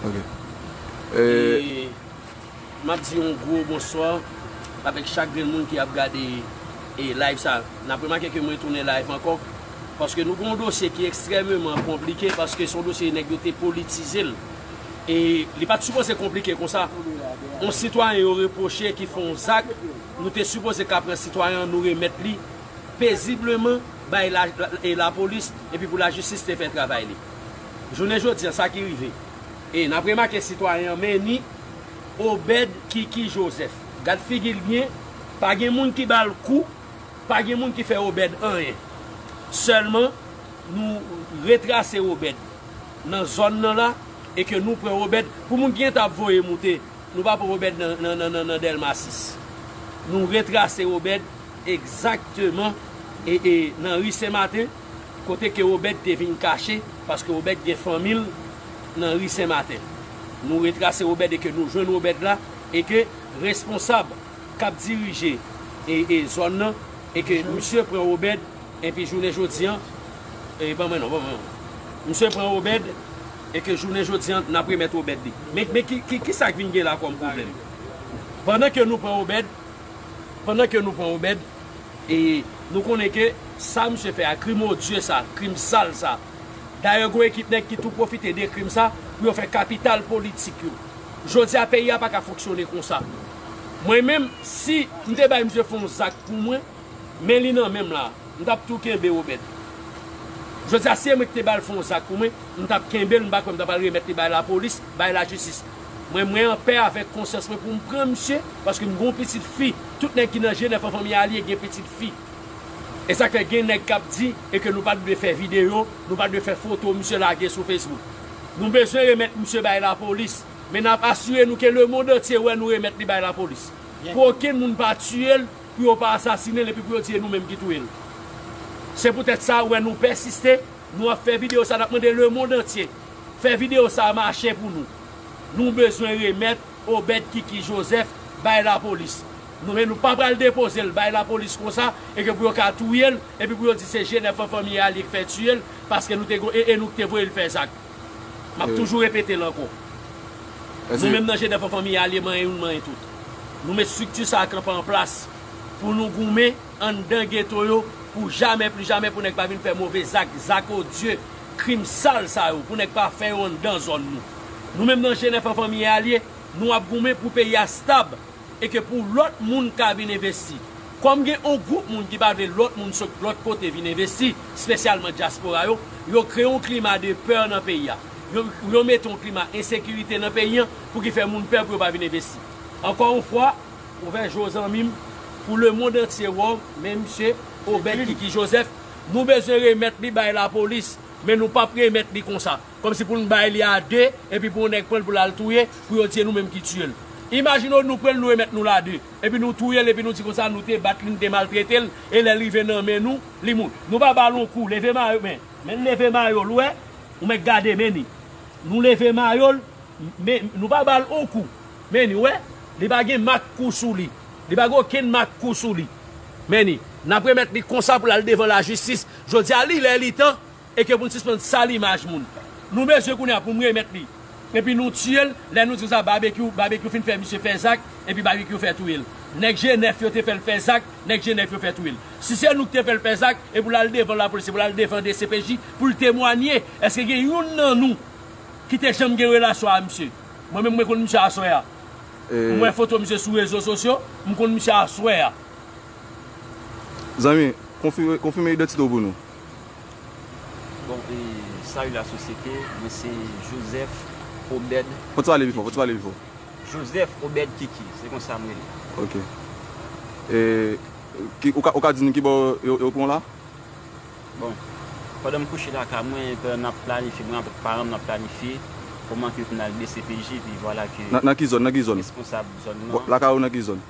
Ok. E map di yon gwo bonswa avèk chak grenn moun ki ap gade e live sa. Nap remake ke mwen tounen live ankò. Paske nou gon dosye ki ekstrèmeman konplike paske son dosye nèg yo te politize l. E li pat sipoze konplike konsa. Yon sitwayen yo repwoche ki fon zak, nou te sipoze ka pran sitwayen an nou remèt li pezibleman bay la e lapolis epi pou lajistis te fè travay li. Jounen jodi a, sa ki rive? E, n ap remake sitwayen an men ni Obed Kiki Jozèf. Gad figi l byen, pa gen moun ki ba l kou, pa gen moun ki fè Obed anyen. Sèlman, nou retrase Obed nan zòn nan la e ke nou pran Obed pou moun ki gen tan ap voye moute, nou pa pran Obed nan Dèlma 6. Nou retrase Obed egzakteman nan ri Senmaten. kote ke Obed te vin kache, paske Obed gen fanmi l nan ri Sen Maten. Nou retrase Obed e ke nou jwenn Obed la, e ke responsab k ap dirije e zòn nan, e ke misye pran Obed, enpi jounen jodi an, e ban mwen non, ban mwen non. Misye pran Obed, e ke jounen jodi an, n ap remèt Obed li. Men, men ki, ki sa k vin gen la kòm pwoblèm? Pandan ke nou pran Obed, pandan ke nou pran Obed. E nou konnen ke sa misye fè a, krim odye sa, krim sal sa. Dayè gon ekip nèg ki tou pwofite de krim sa pou yo fè kapital politik yo. Jodi a peyi a pa ka fonksyone konsa. Mwen menm, si m te bay misye fon zak pou mwen, men li nan menm la, m t ap tou kenbe Robert. Jodi a si e mwen ki te ba l fon zak pou mwen, m t ap kenbe l, m pa kwè m t ap al remèt li bay lapolis, bay lajistis. Mwen mwen anpè avèk konsyans mwen poum pran misye paske m gon pitit fi tout nèg ki nan jenèf an fanmi alie gen pitit fi esak fè gen nèg kap di eke nou pat dwe fè video nou pat dwe fè foto misye lage sou facebook nou bezwen remèt misye bay lapolis men nap asire nou ke lemond antye wè nou remèt li bay lapolis pou okenn moun pa tiyel pou yo pa asasinel epi pou yo di e nou menm ki touyel se pou tèt sa wè nou pèsiste. Nou ap fè video sa nap mande le monde entier fè video sa mache pou nou nou bezwen remèt Obed kiki Joseph bay la police nou men nou pa pral depozel bay la police konsa e ke pou yo ka touyel e pi pou yo di se Genève an fanmi a li k fè tiyel paske nou te gon e e nou k te voyel fè zak map toujou repetel ankò nou menm nan Genève an fanmi a li manyen youn manyen tout nou met structure sa kanpe an plas pou nou goumen. Anndan geto yo pou jamè pli jamè pou nèg pa vin fè move zak, zak odye, krim sal sa yo pou nèg pa fè yo anndan zòn nou. Nou menm nan Jenèf an fanmi e alye, nou ap goumen pou peyi a stab e ke pou lòt moun ka vin envesti. Kòm gen on gwoup moun ki pa vle lòt moun sot lòt kote vin envesti, spesyalman dyaspora yo, yo kreye on klima de peur nan peyi a. Yo yo mete on klima ensekirite nan peyi an pou ki fè moun pè pou yo pa vin envesti. Ankò on fwa, Ouvè je w zanmi m pou le mond antye wè w men misye Obed Kiki Joseph nou bezwen remèt li bay lapolis men nou pap remèt li konsa kòmsi pou n bay li a 2 epi pou yon nèg pran l pou l al touye pou yo di e nou menm ki tiye l imajine w nou pran l nou remèt nou l a 2 epi nou touye l epi nou di konsa nou te bat li nou te maltrete l e lè l rive nan men nou li mou nou pa ba l yon kou leve mayo men men l leve mayo l wè ou mèt gade men ni nou leve mayo l men nou pa ba l yon kou. Many, Wè, li pa gen mak kou sou li. Li pa gen okenn mak kou sou li. Many, N ap remèt li konsa pou l al devan lajistis. Jodi a, li lè li tan e ke pou n sispann sal imaj moun. Nou bezwen kounye a pou m remèt li. Epi nou tiye l, lè nou di konsa Babekyou, Babekyou fin fè misye fè zak, epi Babekyou fè touye l. Nèg je nèf yo te fè l fè zak, nèg je nèf yo fè touye l. Si se nou ki te fè l fè zak, e pou l al devan lapolis, e pou l al devan dcpj, pou l temwanye, èske gen youn nan nou ki te janm gen relasyon a misye? Mwen menm mwen konn misye aswè a. M wè foto misye sou rezo sosyo, m konn misye aswè a. Zanmi, konfime idantite w pou nou. Bon, e, salut la société, mwen se Joseph Obed Kiki. Fò w pale pi fò, fò w pale pi fò. Joseph Obed Kiki, se konsa m rele. Ok. E, ou ka di nou ki bò yo pran w la? Bon, pandan m kouche lakay mwen, pandan n ap planifye, mwen avèk paran m n ap planifye kòman ke pou n al dcpj, epi vwala ke responsab zòn nan. Bon, lakay ou nan ki zòn?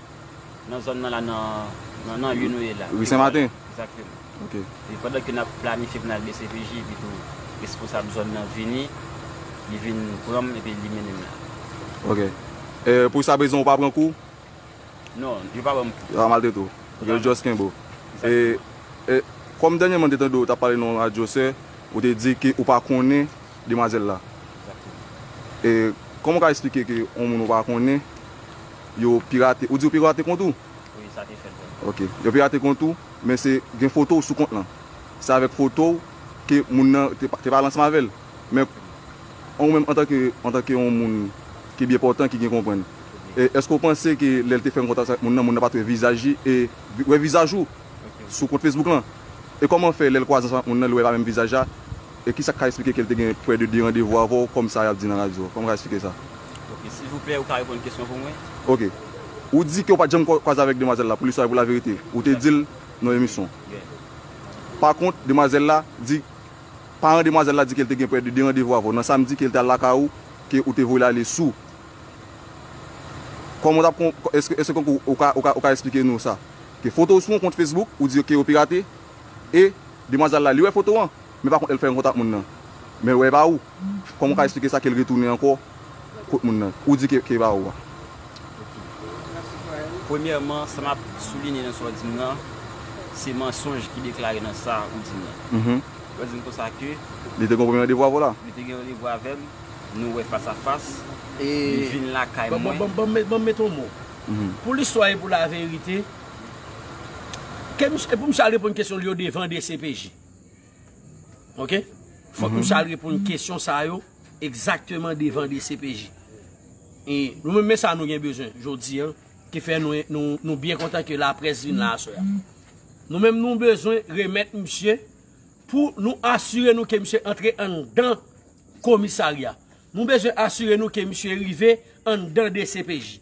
Nan zòn nan la, nan nan ri nou ye la. Ri Senmaten? Egzakteman. Ok. Epi pandan ke n ap planifye pou n al dcpj, epi tou responsab zòn nan vini, li vin pran m epi li mennen m la. Ok. Pou sa brezon ou pa pran kou? Non, yo pa banm kou. Yo pa maltrete w. Ok, yo just kenbe w. Exactement. E, kòm dènyèman m te tande w t ap pale nan yon radyo sè, ou te di ke ou pa konnen demwazèl la. Exactement. E, kòman w ka esplike ke yon moun ou pa konnen, yo pirate, ou di yo pirate kont ou? Wi, sa te fèt vre. Ok. Yo pirate kont ou, men se gen foto w sou kont lan. Se avèk foto w ke moun nan te pale ansanm avè l. Men, ou menm antanke, antanke yon moun ki byen pòtan, ki byen konprann, èske ou panse ke lè l te fè yon kontak avèk moun nan, moun nan pa t wè vizaj li e wè vizaj ou sou kont Facebook lan? E kòman fè lè l kwaze ansanm ak moun nan, li wè pa menm vizaj la? E kisa k ka esplike ke l te gen pwè de derandevou avè w kòm sa y ap di nan radyo? Kòman w ka esplike sa? Ok, silvouplè, ou ka reponn kesyon pou mwen? Ok. Ou di ke ou pa t janm kwaze avèk demwazèl la, pou listwa e pou laverite. Ou te di l nan emisyon. Pakont, demwazèl la di. Paran demwazèl la di ke l te gen prè de 2 randevou avè w nan samdi ke l te al lakay ou, ke ou te voye l ale sou. Kòman ou t ap kon, èske, èske konkou ou ka, ou ka, ou ka esplike nou sa? Ke foto w sou yon kont Facebook, ou di yo ke yo pirate, e demwazèl la li wè foto an, men pa kont lè l fè rankontre ak moun nan, men l wè e pa ou. Kòman ou ka esplike sa ke l retounen ankò? kot moun nan ou di ke ke pa ou a. Premyèman sa map soulinye nan sa w di m nan se mansonj ki deklare nan sa ou di m nan. Ou pa di m konsa ke. Li te gen yon premye randevou avè w la? Li te gen randevou avè m, nou wè fas a fas, li vin lakay mwen. Bon ban m met yon mo. Pou listwa e pou laverite, ke misye, pou misye al reponn kesyon li yo devan dcpj. Ok? Fòk misye al reponn kesyon sa yo. Ekzakteman devan dcpj. E nou menm men sa nou gen bezwen jodi an ki fè nou byen kontan ke laprès vin la aswè a. Nou menm nou bezwen remèt misye pou nou asire nou ke misye antre anndan komisarya. Nou bezwen asire nou ke misye rive anndan dcpj.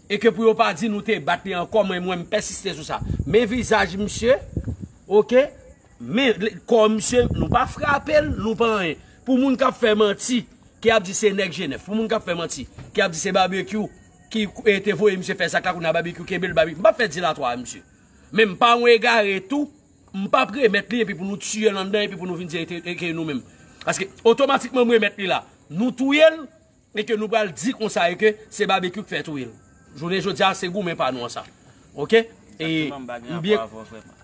E ke pou yo pa di nou te bat li ankò men mwen m pèsiste sou sa. Men vizaj misye, ok, men kò misye, nou pa frape l, nou pa anyen. Pou moun k ap fè manti, ki ap di se nèg Jenèf, pou moun k ap fè manti, ki ap di se Babekyou ki te voye misye fè zak la kounye a Babekyou kenbe l, Babekyou, m pa fè dilatwa a misye. Men m pa yon egare tou, m pa ap remèt li epi pou nou tiye l anndan epi pou nou vin di e ke nou menm. Paske otomatikman m remèt li la, nou touye l, E ke nou pral di konsa e ke se Babekyou k fè touye l. Jounen jodi a se goumen pa nou an sa. Ok. Exactement m pa gen rapò avè w vrèman.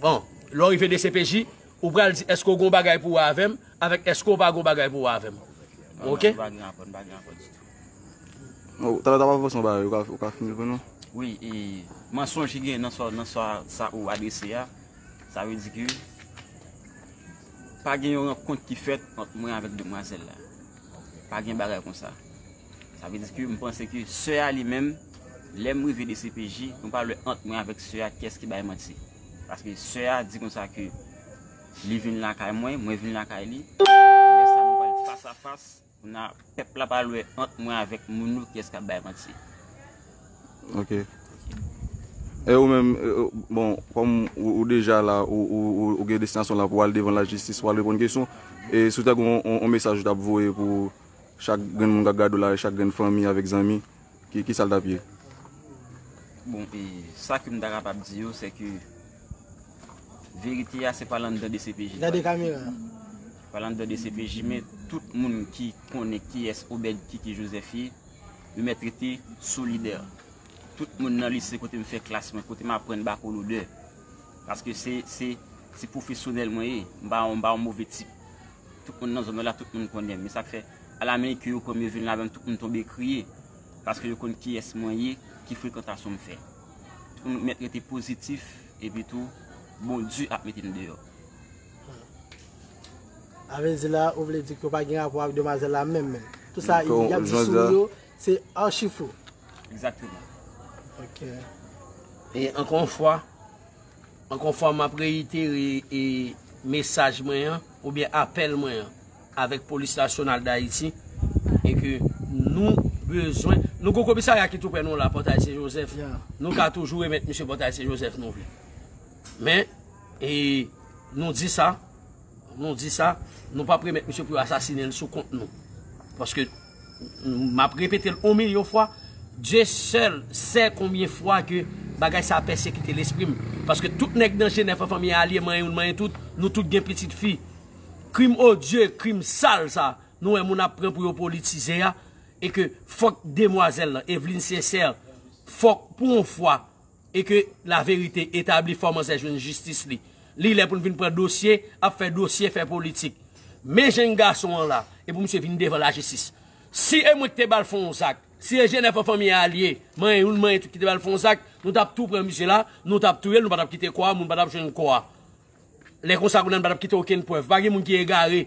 Bon, lè w rive dcpj, ou pral di èske w gen yon bagay pou wè avè m, avèk èske w pa gen yon bagay pou wè avè m. Ok. M pa gen rapò, m pa gen rapò ditou. Bon, talè w t ap avanse yon bagay, ou ka fini l pou nou? Wi, e mansonj ki gen nan sa nan sa sa ou adrese a, sa vle di ke pa gen yon rankont ki fèt ant mwen avèk demwazèl la. Pa gen bagay konsa. Sa vle di ke m panse ke sè a li menm, lè m rive dcpj, m pa wè ant mwen avèk sè a kiyès ki bay manti. Paske sè a di konsa ke li vin lakay mwen, mwen vin lakay li, lè sa nou pral fas a fas, kounya pèp la pral wè ant mwen avèk moun yo kiyès k ap bay manti. Ok. E ou menm, bon, kòm ou deja la, ou gen destinasyon la pou al devan la jistis pou al reponn kesyon, e si ou ta gen yon mesaj ou ta ap voye pou chak grenn moun k ap gade w la, chak grenn fanmi avèk zanmi, ki sa l t ap ye? Bon, e sa ke m ta kapab di yo, se ke verite a se pa landan dcpj. Gade kamera a. Pa landan dcpj, men tout moun ki konnen kiyès Obed Kiki Joseph ye. Yo mèt rete solidè. Tout moun nan lise kote m fè klas mwen, kote m aprann bakolodè. Paske se pwofesyonèl mwen ye. M pa yon move tip. Tout moun nan zòn mwen la, tout moun konnen m. E sa k fè, alamenike yo pran m, yo vin ladan m, tout moun tonbe kriye. Paske yo konn kiyès mwen ye, ki frekantasyon m fè. Tout moun mèt rete pozitif, epitou Bondye ap mete n deyò. Avenzi la ou vle di ke ou pa gen rapò ak demwazèl la menm menm. Tout sa y ap di sou ou yo se achi fo. Exactement. Ok. E ankò yon fwa, ankò yon fwa m ap reyitere e mesaj mwen an oubyen apèl mwen an avèk polis nasyonal dayiti e ke nou bezwen, nou gen yon komisarya ki tou prè nou la, Pòtay Sen Jozèf, nou ka toujou remèt misye Pòtay Sen Jozèf nou vle. Men. E nou di sa, nou di sa, nou pa premèt misye pou yo asasine l sou kont nou. Paske, m ap repete l on milyon fwa, Dye sèl sè konbyen fwa ke bagay sa pèsekite lespri m. Paske tout nèg nan Jenèf an fanmi Alye manyen youn manyen tout, nou tout gen pitit fi. Krim odye, krim sal sa, nou wè moun ap pran pou yo politize a, e ke fòk demwazèl lan, Evelyne Sincère, fòk pou on fwa, e ke la verite etabli fò manzè jwenn jistis li li lè pou n vin pran dosye ap fè dosye fè politik men jèn gason an la e pou misye vin devan la jistis si e mwen ki te bal fon w zak si e jenèf an fanmi a li ye manyen youn manyen tout ki te bal fon w zak nou tap tou pran misye la nou tap touye l nou pa tap kite kò a moun pa tap jwenn kò a lè konsa kounye a nou pa tap kite okenn prèv pa gen moun ki egare.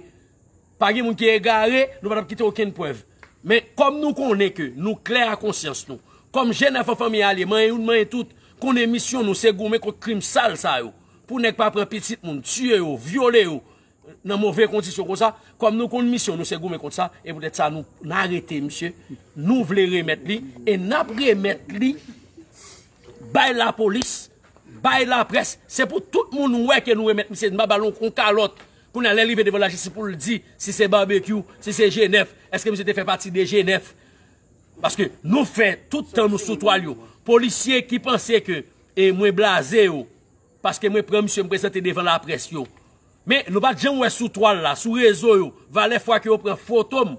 Pa gen moun ki egare, nou pa tap kite okenn prèv. Men, kòm nou konnen ke nou klè a konsyans nou, kòm jèn afan fanmi alye, manyen youn manyen tout, konnen misyon nou se goumen kont krim sal sa yo, pou nèg pa pran pitit moun, tiye yo, vyole yo, nan move kondisyon konsa, kòm nou konn misyon nou se goumen kont sa, e poutèt sa nou arete misye, nou vle remèt li, e nap remèt li bay lapolis, bay laprès, se pou tout moun wè ke nou remèt misye, nou pa bal yon kalòt. Kounye a lè l rive devan lajistis pou l di si se Barbecue, si se G9, eske misye te fè pati de G9? Paske nou fè tout tan nou sou twal yo. Polisye ki panse ke mwen blaze yo paske mwen pran misye m prezante devan laprès yo. Men nou pat janm wè sou twal la, sou rezo yo, valè fwa ke yo pran foto m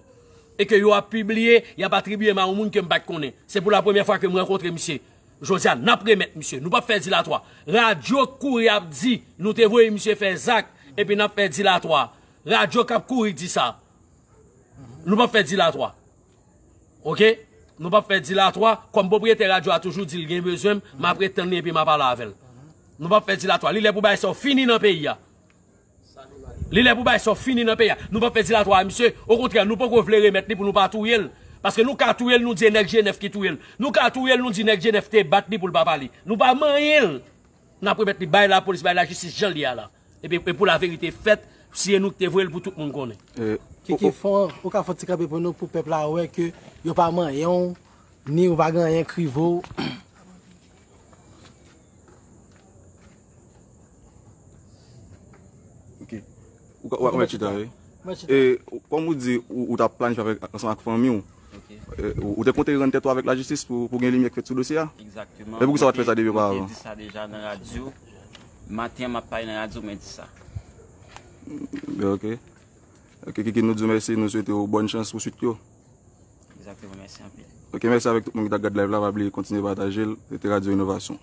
e ke yo ap pibliye, y ap atribye m a yon moun ke m pat konnen. Se pou la premyè fwa ke m rankontre misye. Jodia nap remet misye. Nou pap fe dilatwa. Radio k kouri ap di nou te voye misye fe zak epi nap fe dilatwa. Radio kap kouri di sa. Nou pap fe dilatwa. Ok. Nou pap fe dilatwa. Kom propriete radio a toujou di li gen bezwen m, map ret tann li epi map ale avel. Nou pap fe dilatwa. Li le pou bagay sa yo fini nan peyi a. Li lè pou bagay sa yo fini nan peyi a. Nou pap fè dilatwa a misye. Okontrè, nou poko vle remèt li pou nou pa touye l. Paske nou ka touye l nou di e nèg Jenèf ki touye l. Nou ka touye l nou di nèg Jenèf te bat li pou l pa pale. Nou pa manyen l. N ap remèt li bay lapolis, bay lajistis jan l ye a la. Epi e pou laverite fèt, si e nou ki te voye l pou tout moun konnen. Kiki fò, ou ka fè yon ti kanpe pou nou pou pèp la wè ke yo pa manyen w, ni ou pa gen anyen k rive w. Wap mwen chita we. E kom ou di ou ta plan fè avèk ansan ak fanmi ou. Ou te konte rande tèt ou avèk la jistis pou gen limye k fèt sou dosye a. Exactement. E pou ki sa wap fè sa depi opa avan. Mwen te di sa deja nan radyo. Maten map pale nan radyo mwen di sa. Be ok. Ok kiki nou di ou mèsi nou swete ou bon chans pou swit yo. Exactement mèsi anpil. Ok mèsi avèk tout moun ki ta gad live la pa bliye kontinye patajel. Rete radyo inovasyon.